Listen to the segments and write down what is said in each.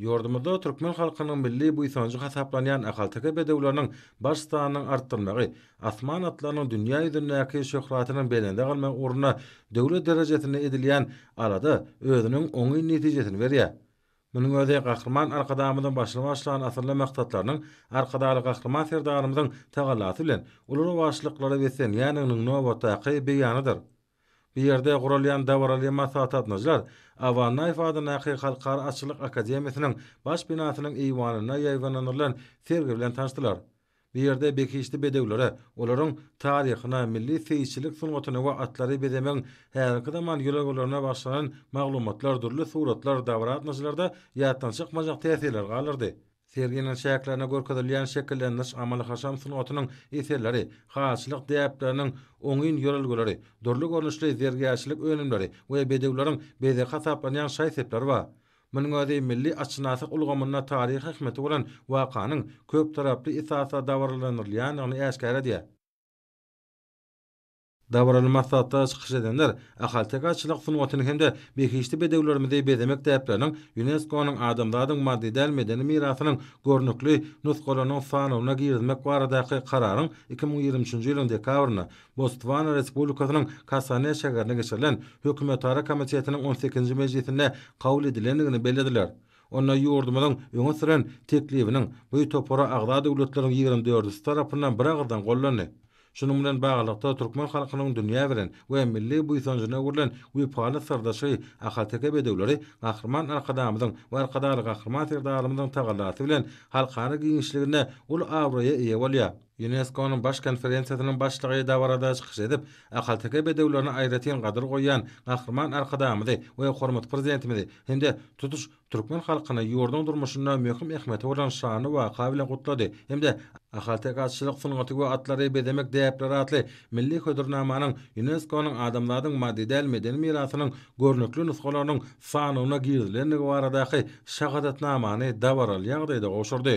Ýurdumyzda türkmen halkynyň milli buýsanjy hasaplanýan ahalteke bedewleriniň baş sanynyň artdyrmagy, asman atlarynyň dünýä ýüzündäki şöhratynyň belende galmagy ugrunda döwlet derejesinde edilýän alada özüniň oňyn netijesini berýär. Munuň özi Gahryman Arkadagymyzyň başyny başlan asylly maksatlarynyň Arkadagly Gahryman Serdarymyzyň tagallasy bilen uly rowaçlyklara beslenýändiginiň nobatdaky beýanydyr. Bu ýerde guralýan dabaraly maslahatnaşalar Awannaýew adyndaky Halkara atçylyk akademiýasynyň baş binasynyň eýwanynda ýaýbaňlandyrylan sergi bilen tanyşdylar. Bu ýerde behişdi bedewlere, olaryň taryhyna, milli seýisçilik sungatyna we atlary bezemegiň häzirki zaman ýörelgelerine bagyşlanan maglumatlar, dürli suratlar dabara gatnaşyjylarda ýatdan çykmajak täsirler galdyrdy. Serginiň çäklerinde görkezilýän şekillendiriş-amaly-haşam sungatynyň eserleri, halyçylyk däpleriniň oňyn ýörelgeleri, dürli görnüşli zergärçilik önümleri we bedewleriň bezegi hasaplanýan şaý-sepler bar. Munuň özi milli atşynasak ulgamynda taryhy ähmiýeti bolan wakanyň köptaraply esasda dabaralandyrylýandygyny äşgär edýär. Dabaraly maslahatda çykyş edenler ahalteke-atçylyk sungatyny hem-de behişdi bedewlerimizi bezemek däpleriniň ÝUNESKO-nyň Adamzadyň maddy däl medeni mirasynyň görnükli nusgalarynyň sanawyna girizmek baradaky kararyň iki müň ýigrimi üçünji ýylyň dekabrynda Botswana Respublikasynyň Kasane şäherinde geçirilen Hökümetara komitetiniň on sekizinji mejlisinde kabul edilendigini bellediler. Onda ýurdumyzyň öňe süren teklibiniň bu topara agza döwletleriň ýigrimi dördüsi tarapyndan biragyzdan gollandy. Şunuň bilen baglylykda, türkmen halkynyň dünýä bilen we milli buýsanjyna öwrülen wepaly syrdaşy ahalteke bedewleri Gahryman Arkadagymyzyň we Arkadagly Gahryman Serdarymyzyň tagallasy bilen halkara giňişliginde uly abraýa eýe bolýar. Ýunesko-nyň Baş konferensiýasynyň başlygy dabarada çykyş edip, ahalteke bedewlerine aýratyn gadyr goýýan Gahryman Arkadagymyzy we hormatly Prezidentimizi hem-de tutuş türkmen halkyny ýurduň durmuşynda möhüm ähmiýeti bolan şanly waka bilen gutlady hem-de Ahalteke atçylyk sungaty we atlary bezemek däpleri atly milli hödürnamanyň Ýunesko-nyň Adamzadyň maddy däl medeni mirasynyň görnükli nusgalarynyň sanawyna girizilendigi baradaky şahadatnamany dabaraly ýagdaýda gowşurdy.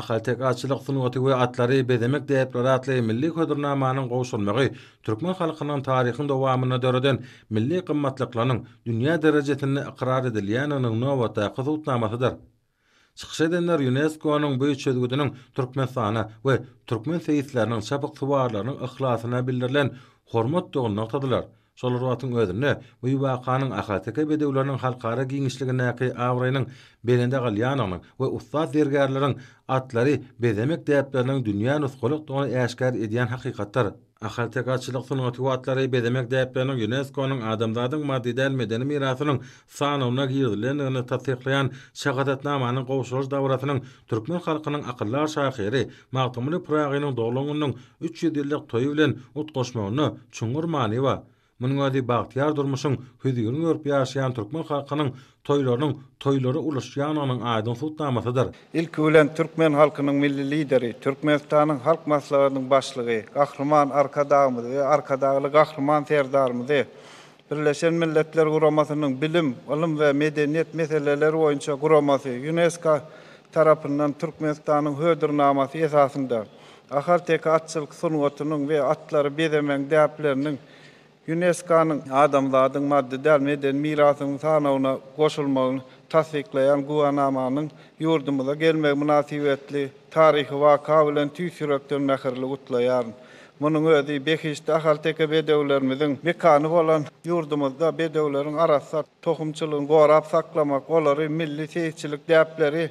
Ahaltekaçylyk sungaty we atlary bezemek däpleri atly milli hödürnamanyň gowşurmagy türkmen halkynyň taryhyň dowamynda döreden milli gymmatlyklarynyň dünýä derejesinde ykrar edilýäniniň nobatdaky subutnamasydyr. Çykyş edenler Ýunesko-nyň bu çözgüdiniň Türkmenistana we türkmen seýisleriniň çapyksuwarlarynyň yhlasyna bildirilen hormatdygyny nygtadylar. Şol wagtyň özünde bu wakanyň ahalteke bedewleriniň halkara giňişligindäki abraýynyň belende galýandygynyň we ussat zergärleriň atlary bezemek däpleriniň dünýä nusgalykdygyny äşgär edýän hakykatdyr. Ahaltekaçylyk sungaty watlary bezemek däpleriniň ÝUNESKO-nyň Adamzadyň maddy däl medeni mirasynyň sanawyna girizilendigini tassyklaýan şahadatnamanyň gowşuryş dabarasynyň türkmen halkynyň akyldar şahyry Magtymguly Pyragynyň doglan gününiň üç ýüz ýyllyk toýy bilen utgaşmagyna çuňňur many bar. Munuň özi bagtyýar durmuşyň hüzürini görüp ýaşaýan türkmen halkynyň toýlarynyň toýlara ulaşýandygynyň aýdyň subutnamasydyr. Ilki bilen türkmen halkynyň Milli Lideri, Türkmenistanyň Halk Maslahatynyň Başlygy Gahryman Arkadagymyzy we Arkadagly Gahryman Serdarymyzy Birleşen Milletler Guramasynyň Bilim, ylym we medeniýet meseleleri boýunça guramasy, Ýunesko, tarapyndan Türkmenistanyň Hödürnamasy esasynda Ahalteke atçylyk sungatynyň we atlary bezemegiň däpleriniň Ýuneskonyň Adamzadyň maddy däl medeni mirasynyň sanawyna goşulmagyny tassyklaýan güwänamanyň ýurdumyza gelmegi mynasybetli taryhy waka bilen tüýs ýürekden mähirli gutlaýaryn. Munuň özi behişdi ahalteke bedewlerimiziň mekany bolan ýurdumyzda bedewleriň arassa tohumçylygyny gorap saklamak, olary milli seýisçilik däpleri,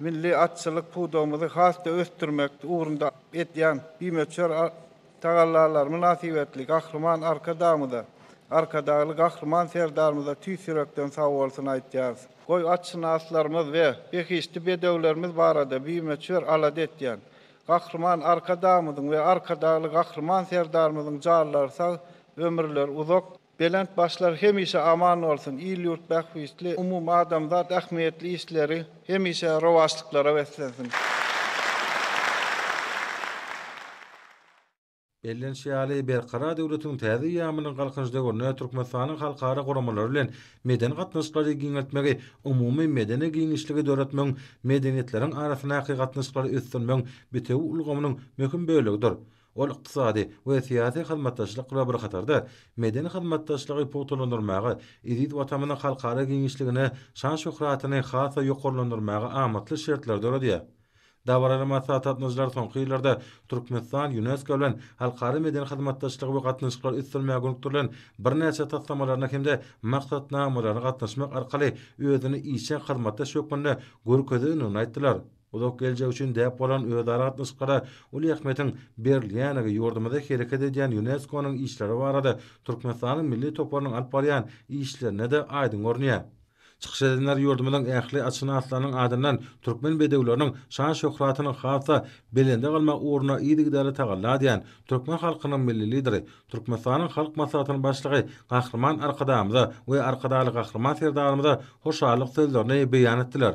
Milli atçylyk pudagymyzy has-da ösdürmek ugrunda edýän bimöçber tagallalary mynasybetli Gahryman Arkadagymyza, Arkadagly Gahryman Serdarymyza tüýs ýürekden sag bolsun aýtýarys. Goý, atşynaslarymyz we behişdi bedewlerimiz barada bimöçber alada etýän Gahryman Arkadagymyzyň we Arkadagly Gahryman Serdarymyzyň janlary sag, ömürleri uzak, Belent başlar hemişe aman bolsun, il-ýurt bähbitli, umumadamzat ähmiýetli işleri hemişe rowaçlyklara beslensin! Bellenişi ýaly, Berkarar döwletiň täze eýýamynyň Galkynyş döwründe Türkmenistanyň halkara guramalary bilen medeni gatnaşyklary giňeltmegi, umumy medeni giňişligi döretmegiň, medeniýetleriň arasyndaky gatnaşyklary ösdürmegiň bitewi ulgamynyň möhüm bölegidir. Ol ykdysady we syýasy hyzmatdaşlyk bilen bir hatarda, medeni hyzmatdaşlygy pugtalandyrmaga, eziz Watamyzyň halkara giňişligine şan-şöhratyny has-da ýokarlandyrmaga amatly şertleri döredýär. Dabaraly maslahat gatnaşyjylary soňky ýyllarda Türkmenistan Ýunesko bilen halkara medeni hyzmatdaşlygy we gatnaşyklary ösdürmäge gönükdirilen birnäçe taslamalaryna hem-de maksatnamalaryna gatnaşmak arkaly özüni işjeň hyzmatdaş hökmünde görkezendigini aýtdylar. Uzak geljek üçin däp bolan özara gatnaşyklara uly ähmiýetiň berilýänligi ýurdumyzda hereket edýän Ýunesko-nyň işleri barada Türkmenistanyň milli toparynyň alyp barýan işlerinde-de aýdyň görünýär. Çykyş edenler ýurdumyzyň ähli atşynaslarynyň adyndan türkmen bedewleriniň şan-şöhratyny has-da belende galmak ugrunda yzygiderli tagalla edýän türkmen halkynyň Milli Lideri, Türkmenistanyň Halk Maslahatynyň Başlygy Gahryman Arkadagymyza we Arkadagly Gahryman Serdarymyza hoşallyk sözlerini beýan etdiler.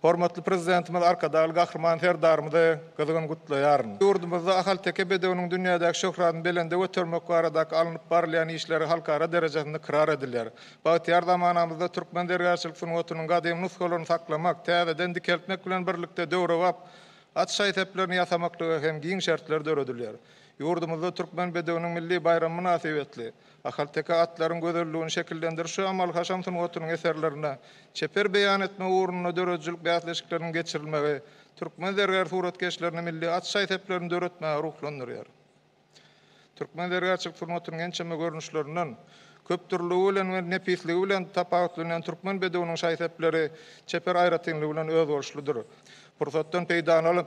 Hormatly Prezidentimiz Arkadagly Gahryman Serdarymyzy gyzgyn gutlaýaryn. Ýurdumyzda ahalteke bedewiniň dünýädäki şöhratyny belende götermek baradaky alnyp barylýan işleri halkara derejesinde ykrar edilýär. Bagtyýar zamanamyzda türkmen zergärçilik sungatynyň gadymy nusgalaryny saklamak, täzeden dikeltmek bilen birlikde döwrebap at şaý-seplerini ýasamaklyga hem giň şertler döredilýär. Ýurdumyzda Türkmen bedewiniň milli baýramy mynasybetli, Ahalteke atlaryň gözelligini şekillendirişi amal-haşam sungatynyň eserlerine çeper beýan etmek ugrunda döredijilik bäsleşikleriniň geçirilmegi türkmen zergär suratkeşlerini milli at şaý-seplerini döretmäge ruhlandyrýar. Türkmen zergärçilik sungatynyň ençeme görnüşlerinden köpdürlüligi bilen we nepisligi bilen tapawutlanýan türkmen bedewiniň şaý-sepleri çeper aýratynlygy bilen özboluşlydyr. Pursatdan peýdalanyp,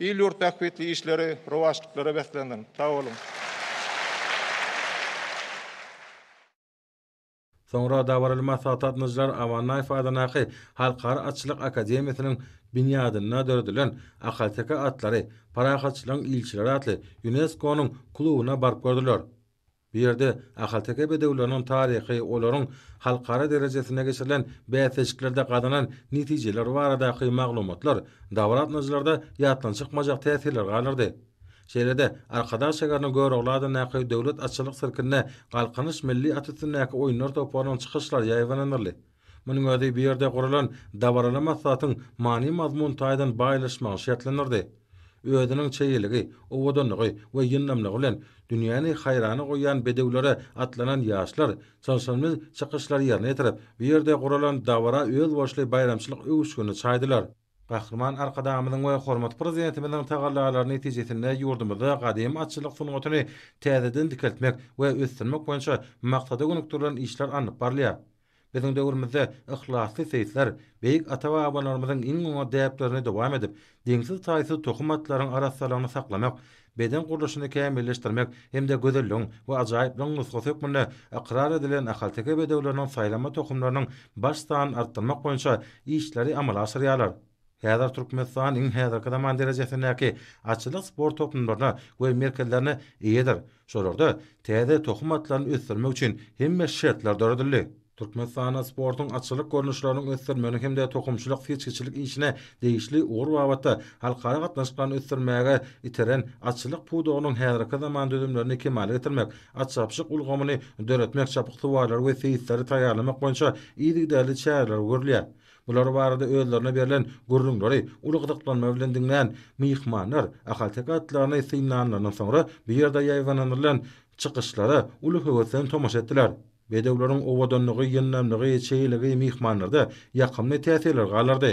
Il-ýurt bähbitli işleri rowaçlyklara beslensin. Sag boluň! Soňra dabaraly maslahat gatnaşyjylar Amannaýew adyndaky Halkara atçylyk akademiýasynyň binýadynda döredilen Ahalteke atlary, parahatçylygyň ilçileri atly Ýunesko-nyň klubuna baryp gördüler. Bu ýerde ahalteke bedewleriniň taryhy, olaryň halkara derejesinde geçirilen bäsleşiklerde gazanan netijeleri baradaky maglumatlar dabar gatnaýjylarda ýatdan çykmajak täsirler galdyrdy. Şeýle-de, Arkadag şäheriniň Görogly adyndaky Döwlet atçylyk sirkinde Galkynyş milli at üstündäki oýunlar toparynyň çykyşlary ýaýbalandyryldy. Munuň özi bu ýerde guralan dabaraly maslahatyň many-mazmun taýdan baýlaşmagyny şertlendirdi. Özüniň çeýeligi, owadanlygy we ýyndamlygy bilen dünýäni haýrana goýýan bedewlere atlanan ýaşlar çylşyrymly çykyşlary ýerine ýetirip, bu ýerde guralan dabara özboluşly baýramçylyk öwüşginini çaýdylar. Gahryman Arkadagymyzyň we hormatly Prezidentimiziň tagallalary netijesinde ýurdumyzda gadymy atçylyk sungatyny täzeden dikeltmek we ösdürmek boýunça maksada gönükdirilen işler alnyp barylýar. Biziň döwrümizde yhlasly seýisler beýik ata-babalarymyzyň iň oňat däplerini dowam edip, deňsiz-taýsyz tohum atlaryň arassalygyny saklamak, beden gurluşyny kämilleşdirmek hem-de gözelligiň we ajaýyplygyň nusgasy hökmünde ykrar edilen ahalteke bedewleriniň saýlanma tohumlarynyň baş sanyny artdyrmak boýunça işleri amala aşyrýarlar. Häzir Türkmenistan iň häzirki zaman derejesindäki atçylyk sport toplumlaryna we merkezlerine eýedir, şolarda täze tohum atlaryny ösdürmek üçin hemme şertler döredildi. Türkmenistanda sportuň atçylyk görnüşleriniň ösdürilmegine hem-de tohumçylyk-seçgiçilik işine degişli ugur babatda halkara gatnaşyklaryny ösdürmäge iteren atçylyk pudagynyň häzirki zaman düzümlerini kemala getirmek, atçapyşyk ulgamyny döretmek, çapyksuwarlary we seýisleri taýýarlamak boýunça yzygiderli çäreler görülýär. Bular barada özlerine berlen gürrüňleri uly gyzyklanma bilen diňlän myhmanlar ahalteke atlaryny synlanlaryndan soňra bu ýerde ýaýbaňlandyrylan çykyşlara uly höwes bilen tomaşa etdiler. Bedewleriň owadanlygy, ýyndamlygy, çeýeligi myhmanlarda ýakymly täsirler galdyrdy.